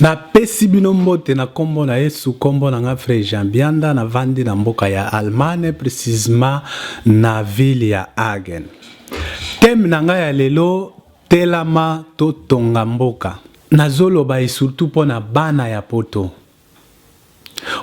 napesi bino mbote na nkombo na yesu nkombo na ngai frere jean bianda navandi na mboka ya allemagne precisement na ville ya hagen teme na ngai ya lelo telama totonga mboka Nazo loba et surtout pona bana ya poto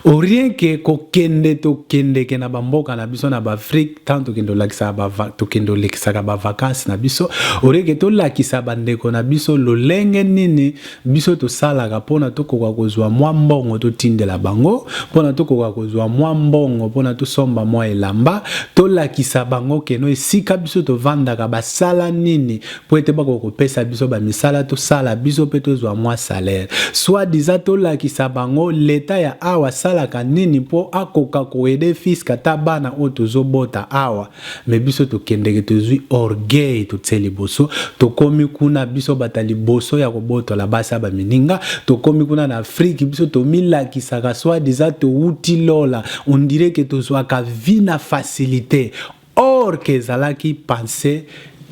au rien que ko kende to kendeke na ba mboka na biso na ba Afrique tant to kende lakisa ba to kende lekisaka ba vacances na biso au rien que to lakisa ba ndeko na biso lolenge nini biso to salaka pona to koka kozwa mwa mbongo to tindela bango pona to koka kozwa mwa mbongo pona to somba mwa elamba to lakisa bango keno esika biso to vandaka basala nini mpo ete bakoka kopesa biso bamisala tosala biso mpe tozwa mwa salaire soit disa tolakisa bango leta ya awa asalaka nini mpo akoka koede fiske ata bana oyo tozobota awa me biso tokendeke tozwi orgueil totse liboso tokomi kuna biso bata liboso ya kobotola basi ya bamininga tokomi kuna na afrike biso tomilakisaka soit disa towuti lola ondireke tozwaka vi na facilite Or que ezalaki pensee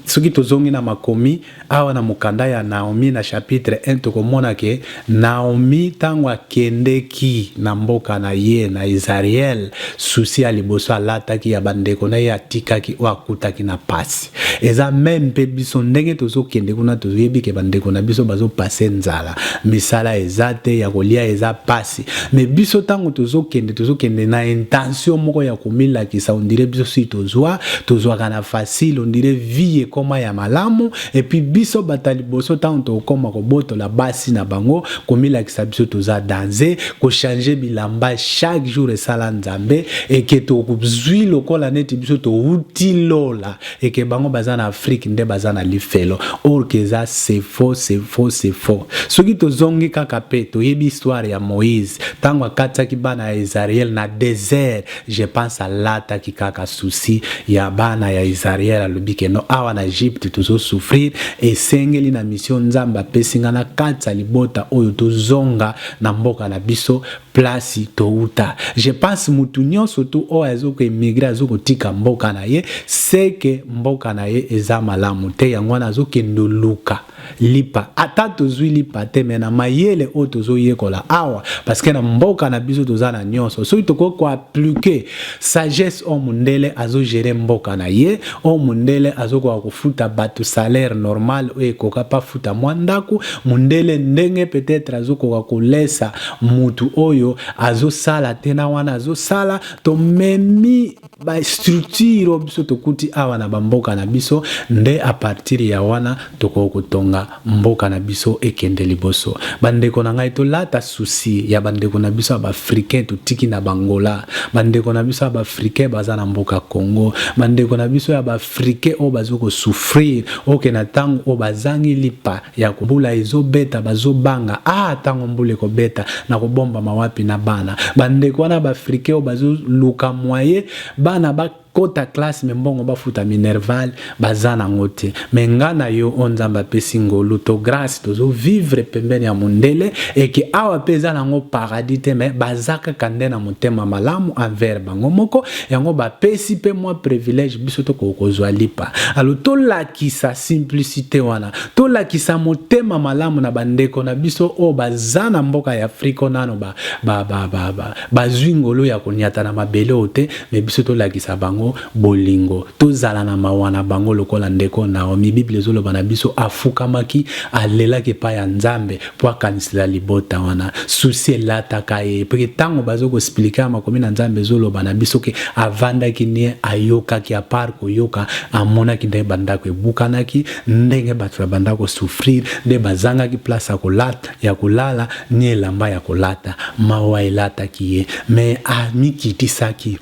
soki tozongi na makomi awa na mokanda ya Naomi na chapitre 1 tokomona ke Naomi tango akendeki na mboka na ye na Isariel souci ya liboso alataki ya bandeko na ye atikaki oyo akutaki na pasi eza meme mpe biso ndenge tozokende kuna toyebi ke bandeko na biso bazo passe nzala misala eza te ya kolia eza pasi makasi mais biso tango tozokende tozokende na intention moko ya komilakisa on dirait biso si tozwa tozwaka na facile on dirait vie ekoma ya malamu et puis biso bata liboso tango tokoma kobotola basi na bango komilakisa biso toza danze kochange bilamba chaque jour esala nzambe eke tozwi lokola neti biso touti lola et que bango baza na Afrique nde baza na lifelo or que eza c'est faux c'est faux c'est faux soki tozongi kaka pe toyebi histoire ya Moïse tango akatisaki bana ya Isariel na desert je pense alataki kaka souci ya bana ya Isariel alobi que non awa na Egypte tozo souffrir esengeli na mission Nzambe apesi nga nakatisa libota oyo tozonga na mboka na biso place towuta je pense mutu nionso tu oyo azo ko emigre azo kotika mboka na ye seke mboka na ye eza malamu te yango wana azo kende luka lipa ata tozui lipa te me na mayele oyo tozo yekola awa parce que na mboka na biso toza na nionso soki tokoki ko appliquer Sagesse oyo mundele azo gerer mboka na ye, oyo mundele azo koka kofuta batu salaire normal oyo ekoka pe afuta mwa ndaku, mundele ndenge peut etre azo koka kolesa mutu oyo azo sala te na wana azo sala, to memi ba structure oyo biso tokuti awa na ba mboka na biso nde a partir ya wana tokoki kotonga Mboka na biso ekende liboso ba ndeko na ngai tolata souci ya ba ndeko na biso ya ba africain totiki na ba Angola ba ndeko na biso ya ba africain baza na mboka Congo ba ndeko na biso ya ba africain oyo bazo ko souffrir oke na tango oyo bazangi lipa ya mbula ezobeta bazobanga ah tango mbula ekobeta na kobombama wapi na bana ba ndeko wana ba africain oyo bazoluka moyen bana ba Kota classe mais mbongo bafuta minerval baza nango te mais nga na yo oyo nzambe apesi ngolu to grace tozo vivre pembeni ya mundele et que awa pe eza nango paradis te mais baza kaka nde na motema malamu envers bango moko yango bapesi pe mwa privilège biso tokoki kozwa lipa alo tolakisa simplicite wana tolakisa motema malamu na bandeko na biso oyo baza na mboka ya afrika nano bazwi ba, ba, ba, ba, ngolu ya konyata na mabele oyo te Mais biso tolakisa bango bolingo, tozala na mawa na bango lokola ndeko Naomi. Bible ezoloba na biso afukamaki, alelaki epai ya Nzambe po akanisela libota wana. Souci elataka ye, po ke tango bazo ko expliquer makomi na Nzambe ezoloba na biso ke avandaki nie, ayokaki, a part koyoka, amonaki ndenge ba ndako ebukanaki, ndenge bato na banda ko souffrir, nde bazangaki place ya kolata, ya kolala ni elamba ya kolata. Mawa elataki ye, mais amikitisaki.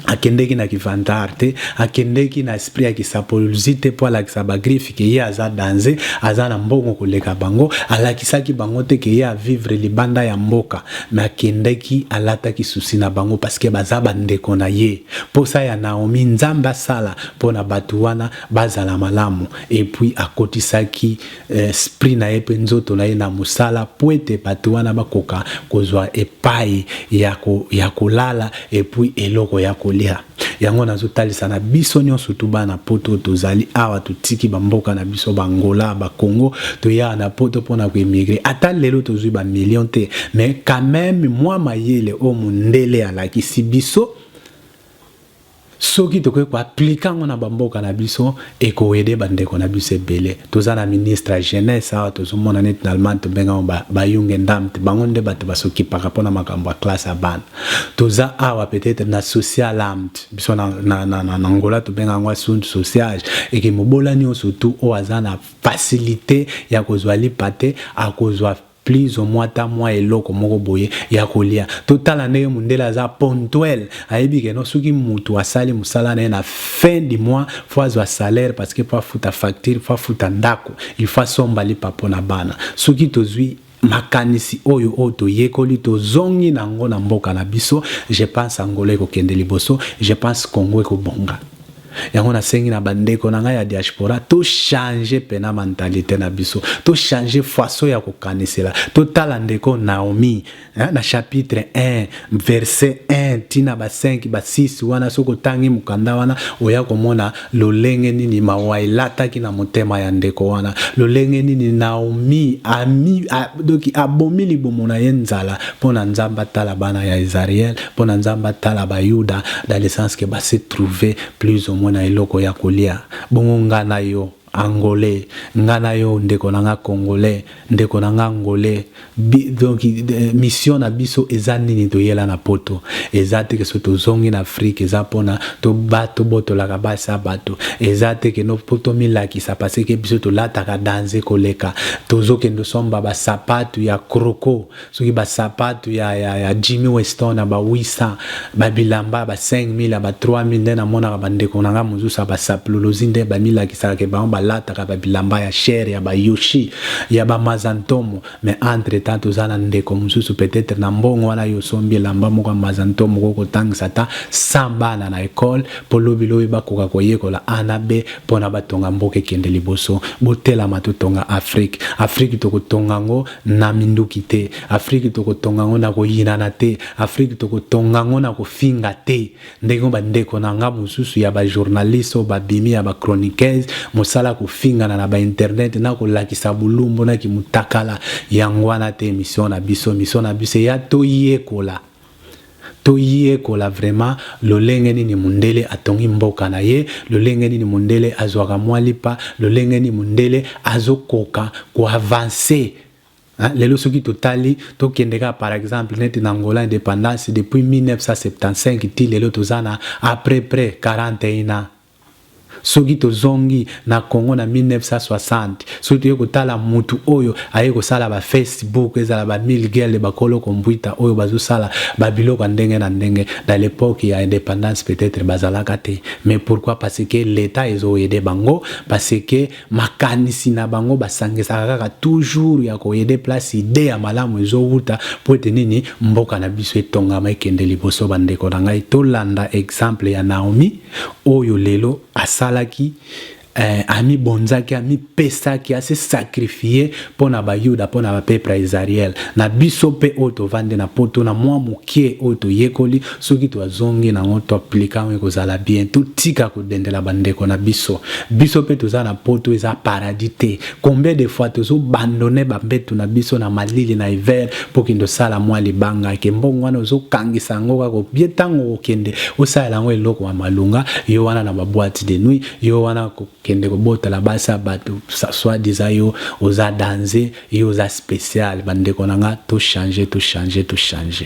Akendeki na ki vantard te, akendeki na esprit ya ki sapolozi te po alakisa ba griffes que ye aza danze, aza na mbongo koleka bango. Alakisaki bango te que ye a vivre libanda ya mboka, mais akendeki alataki souci na bango parce que baza ba ndeko na ye. Posa ya Naomie Nzambe asala pona batu wana bazala malamu et puis akotisaki esprit na ye mpe nzoto na ye na mosala mpo ete bato wana bakoka kozwa epai ya kolala epui eloko ya kolia. Yango nazotalisa na biso nionso surtout bana poto oyo tozali awa totiki ba mboka na biso ba Angola ba Congo toye awa na poto mpo na ko emigrer ata lelo tozwi ba million te mais quand même mwa mayele oyo mondele alakisi biso Soki tokoki ko appliquer yango na ba mboka na biso, eko aider ba ndeko na biso ebele. Toza na ministre ya jeunesse awa, tozo mona neti na Allemagne to benga yango ba ba Jungendamt, bango nde batu ba s'occupaka pona makambo ya classe ya bana. Toza awa peut etre na Sozialamt, biso na na na Angola to benga yango Assunto Sociais, et que mobola nionso tout oyo aza na facilite ya kozwa lipa te, akozwa Please omwa ata mwa eloko moko boye ya kolia totala ndenge mundele aza pontuel ayebi ke no soki mutu asali musala naye na fin du mois faut azwa salaire parce que faut afuta facture faut afuta ndaku il faut asomba lipa pona bana soki tozwi makanisi oyo oyo toyekoli tozongi na ngo na mboka na biso je pense Angola ekokende liboso je pense Congo ekobonga. Yango nasengi na bandeko na ngai ya diaspora to changer pena mentalite na biso, to changer façon ya kokanisela. Totala ndeko Naomi na chapitre 1 verset 1 tina ba 5 ba 6 wana, soki otangi mokanda wana oya komona lolenge nini mawa elataki na motema ya ndeko wana, lolenge nini Naomi ami doki abomi libumu na ye nzala mpo na Nzambe atala bana ya Israël, mpo na Nzambe atala ba Yuda dans le sens que basi trouver plus au moins na eloko ya kolia bongo nga na yo angolais nga na yo ndeko na nga congolais ndeko na nga angolais Bi, donc eh, mission na biso eza nini toyela na poto eza te ke so tozongi na afrique eza mpona tobotolaka basi ya bato eza te ke no mpo tomilakisa paseke biso tolataka danze koleka tozokende osomba basapatu ya kroko soki ba sapatu ya ya ya Jimmy Weston ya ba 800 ba bilamba ya ba 5000 ya ba 3000 nde namonaka ba ndeko na nga mosusu ya ba sapululozi nde ba milakisaka ke bango balataka ba bilamba ya cher ya ba Yoshi ya ba Mazantomo mais entre temps toza na ndeko mosusu peut-être na mbongo wana yo osombi elamba moko ya Mazantomo ko kotangisa ata 100 bana na ekole po lobi lobi bakoka koyekola A na B pona batonga mboka ekende liboso botelama totonga Afrique Afrique tokotonga yango na minduki te, Afrique tokotonga yango na koyinana te, Afrique tokotonga yango na kofinga te, ndenge ba ndeko na nga mosusu ya ba journalistes oyo babimi ya ba chroniqueuses, mosala kofingana na ba internet na kolakisa bulumbu na kimutakala, yango wana te emission na biso, emission na biso eya toyekola. To yekola vraiment lolenge nini mundele atongi mboka na ye, lolenge nini mundele azwaka mwa lipa, lolenge nini mundele azo koka ko avancer hein, lelo soki to tali to kende kaka par exemple neti na Angola independance depuis 1975 ti lelo toza na a près près 41 ans. Soki tozongi na Congo na 1960, soki toye kotala mutu oyo aye kosala ba face book, ezala ba mille gueules, ba kolo computer oyo bazo sala ba biloko ya ndenge na ndenge na l'epoque ya independance peut etre bazalaka te mais pourquoi parce que l'etat ezo aide bango parce que makanisi na bango ba sangisaka kaka toujours ya ko aide place idee ya malamu ezo wuta po ete nini mboka na biso etongama ekende liboso ba ndeko na ngai tolanda exemple ya Naomi oyo lelo asalaki eh, amibonzaki amipesaki ase sakrifie mpo na bayuda mpo na bapepre ya isariele na biso mpe oyo tovandi na poto na mwa mokie oyo toyekoli soki toazongi nango toaplika yango ekozala bien totika kodendela bandeko na biso biso mpe toza na poto eza paradis te Combien de fois tozo bandone ba mbetu na biso na malili na hiver po kende osala mwa libanga ke mbongo wana ozo kangisa yango kaka obie tango okokende osalela yango eloko ya malunga yo wana na ba boite de nuit yo wana kokende kobotala basi ya bato soit disant yo oza danze yo oza special bandeko na nga to change to change to change